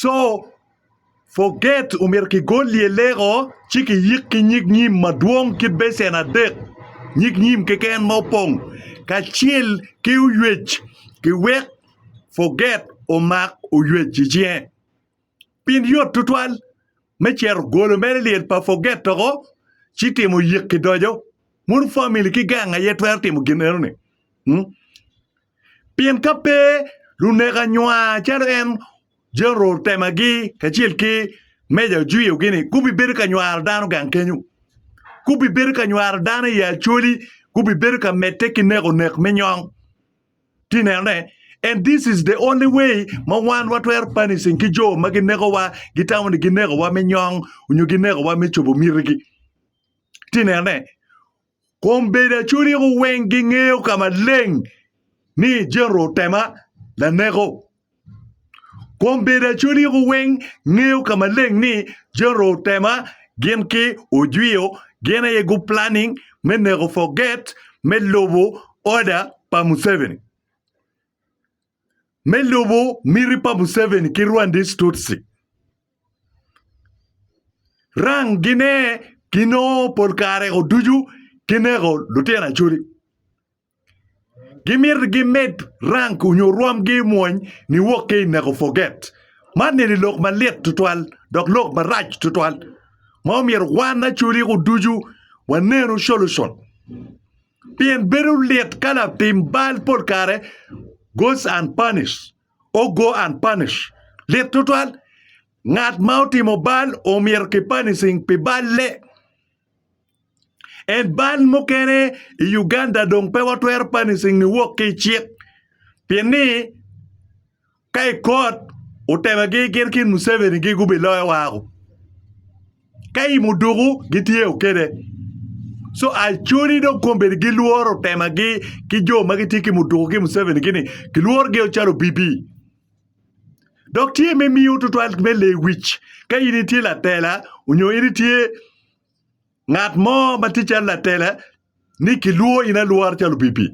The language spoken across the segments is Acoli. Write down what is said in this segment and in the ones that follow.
Co forget omyero kigol lyeleko ci kiyik ki nyig nyim madwong ki becen adek nyig nyim keken ma opong kacel ki oywec kiwek forget omak oywec i cinge pi yot tutwal me cito golo mere lyel pa forget doko ci timo yik ki doco mono famili ki gang aye twero timo gin enoni. Pien ka pe luneko anywa calo en Jeneral Temagi kacel ki Meja Ojwiyo-gi-ni gubibedo ka nywaro dano gang kenyo. Gubibedo ka nywaro dano i Acholi, gubibedo ka medde ki neko nek me nyong. Iti nenone? And this is the only way ma wan watwero punishing ki jo ma ginekowa, gitamo ni ginekowa me nyong nyo ginekowa me cobo mitigi. Iti nenone? Kom bedo aculiko weng gingeyo ka maleng ni General Otema laneko. Kom bedo aculiko weng ngeyo ka maleng ni General Otema gin ki Ojwio gin aye gu planning me neko Forget me lubo order pa Museveni. me lubo miti pa Museveni ki Rwandese Tutsi. Rang gine ginongo pol kare ko ducu gineko lutino Acholi. Gimito gimed rank onyo rwomgi mwony niwok ki i neko forget. Man eni lok malit tutwal dok lok marac tutwal ma omyero wan Acholi ko ducu wanenu solution. Pien bedo lit ka latim bal pol kare goes unpunished, or go unpunished. Lit tutwal, ngat ma otimo bal omyero ki punishing pi balle. En bal mukene i Uganda dong pe watwero punishing ni wok ki i cik. Pien ni Ka i kot, Utebagi gin ki Museveni gi gubiloyo wako. Ka i muduku, gitye o kede. So Acholi dong kombedi gilworo Utemagi ki jo ma gitye ki muduku ki Museveni gi ni gilworo gi o calo obibi. Dok tye me miyo tutwal me lewic ka in itye latela onyo in itye Ngat mo ma tye calo latela ni kilwor in alwora calo opipi.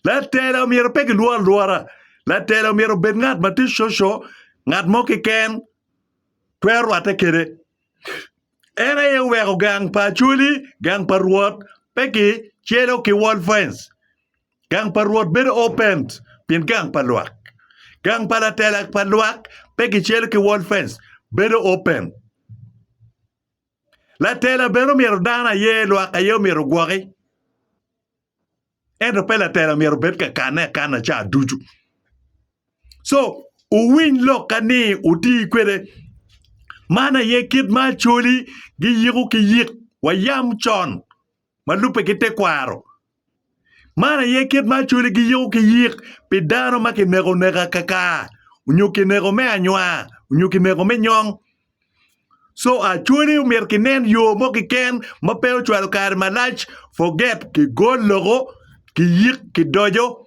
Latela omyero pe kilwor alwora. Latela omyero obed ngat ma tye coco, ngat mo keken twero rwatte kede. En aye oweko gang pa Acholi, gang pa Rwot pe ki celo ki wall fence. Gang pa Rwot bedo open pien gang pa lwak. Gang pa latela pa lwak pe ki celo ki wall fence, bedo open. Latela bene omyero dano aye lwak aye omyero ogwoki, ento pe latela omyero obed ka kanne akana ca ducu. Co owiny lok ka ni oti kwede. Man aye kit ma Acholi giyiko ki yik, wayam con. ma lubbe ki tekwaro. Man aye kit ma Acholi giyiko ki yik pi dano ma kineko oneka kakar onyo kineko me anywa onyo kineko me nyong. Co Acholi omyero kinen yo mo kiken ma pe ocwalo kare malac forget kigol loko kiyik kidojo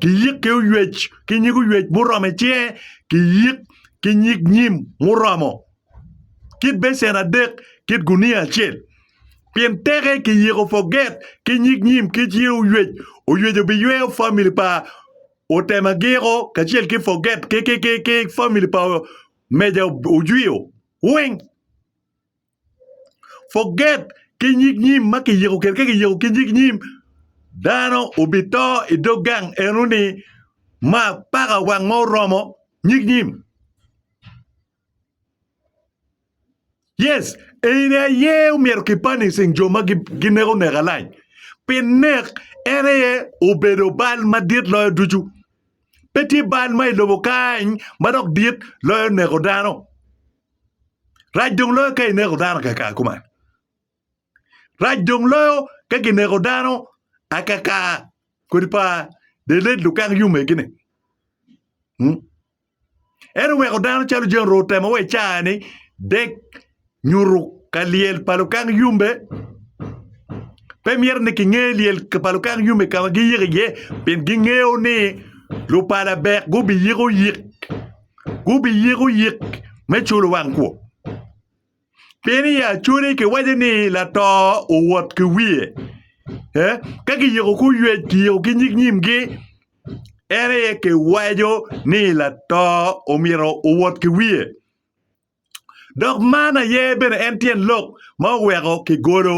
kiyik ki oywec ki nyig oywec muromo icinge kiyik ki nyig nyim muromo kit becen adek kit gunia acel pien teke kiyiko forget ki nyig nyim kic ye oyec oyweco biyweyo famili pa Otemagiro kacel ki forget ki famili pa Meja Ojwiyo weng forget ki nyig nyim ma kiyiko kede ka kiyiko ki nyig nyim dano obito i dog gang enoni ma paka wang ma oromo nyig nyim. Yes, eni aye omyero ki punishing jo ma gineko nek alac. Pi nek en aye obedo bal madit loyo ducu. Pe tye bal ma i lobo kany ma dok dit loyo neko dano. Rac dong loyo ka ineko dano kaka kuman. Rac dong loyo ka gineko dano akaka kodi pa deled lukak yomegi-ni. Hmm? En oweko dano calo jami orwo temo wa i caa-ni dek nyuto ka lyel pa lukak yombe. Pe myero ni kinge lyel pa lukak yombe ka ma giyiko iye pien gingeyo ni lupala bek gubiyiko yik gubiyiko yik me culo wang kwo. Pien i Acodi kiwaco ni lato owot ki wiye, ka kiyiko ki oyec kiyiko ki nyig nyimgi, en aye kiwaco ni lato omyero owot ki wiye. Dok man aye bene en tyen lok ma oweko kigolo.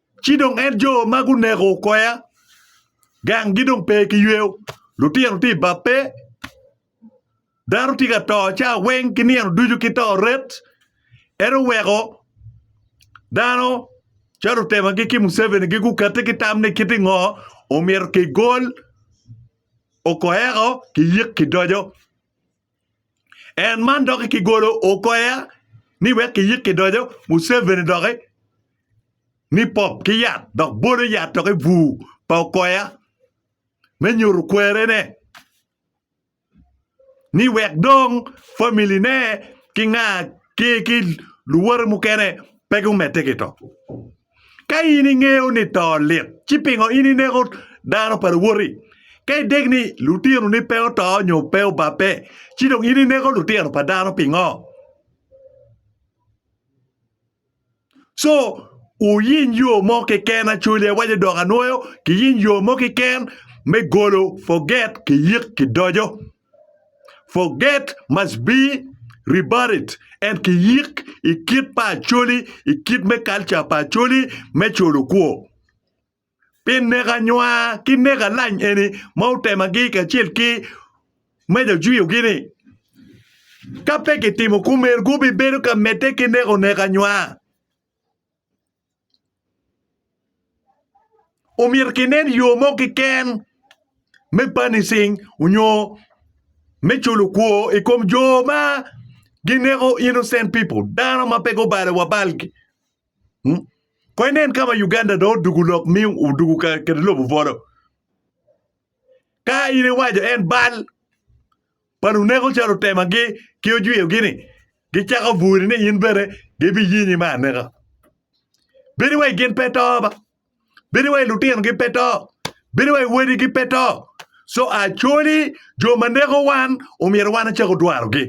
Ci dong en jo ma guneko okoya, ganggi dong pe kiyweyo, lutino tye i bab pe, dano tye ka to cawa weng ki nino ducu ki to ret. En oweko dano calo lutemagi ki Museveni-gi gukette ki tam ni kit i ngo omyero kigol Okoya-ko kiyik kidoco. en man doki kigolo okoya ni wek kiyik kidoco Museveni doki ni pop ki yat dok bolo yat toki bur pa okoya me nyuto kwerene ni wek dong family ne ki nga ki luwote mukene pe gumedde ki to. Ka in ingeyo ni to lit, ci pingo in ineko dano pa luwoti? Ka idek ni lutinoni pe oto nyo pe obabbe, ci dong in ineko lutino pa dano pingo? Co, wuyiny yo mo keken, Acholi awaco dok anwoyo, kiyiny yo mo keken me golo forget ki yik ki doco. Forget must be rebutted and kiyik i kit pa Acholi, i kit me culture pa Acholi me colo kwo. Pi neko anywa ki neko alany eni ma otemagi kacel ki Meja Ojwiyogi ni, ka pe kitimo kumeno gubibedo ka medde ki neko neko anywa. omyero kinen yo mo keken me punishing nyo me culo kwor i kom jo ma gineko innocent people dano ma pe gubalo wa balgi kong inen ka ma Uganda dong odwogo lok ma odwogo ka kede lobo bwolo ka in iwaco en bal pa luneko calo otemagi ki ojwiyogi-ni gicako buri ni in bene gibiyinyi me aneka. Bedi wai gin pe to ba. Bedi wai lutinogi pe to. Bedi wai wadigi pe to. So actually jo ma neko wan omyero wan acako dwarogi.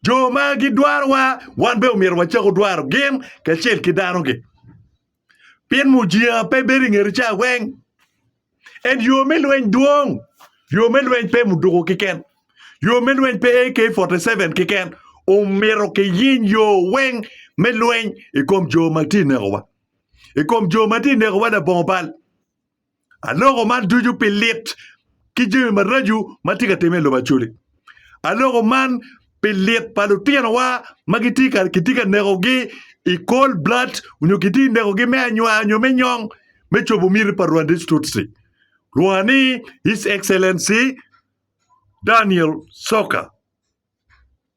Jo ma gidwarowa wan bene omyero wacak odwaro gin kacel ki danogi. Pien mujinga pe bedo i ngeti cawa weng. En yo me lweny dwong. Yo me lweny pe muduku keken. Yo me lweny pe AK47 keken. Omyero kiyiny yo weng me lweny i kom jo ma tye ka nekowa. I kom jo ma tye ka nekowa labongo bal. Aloko man ducu pi lit ki jami maraco ma tye ka timme i lobo Acholi. Aloko man pi lit pa lutinowa ma kitye ka kitye ka nekogi i cold blood nyo kitye ka nekogi me anywar nyo me nyong me cobo miti pa Rwandese Tutsi. Lwonga ni His Excellency Daniel Soka.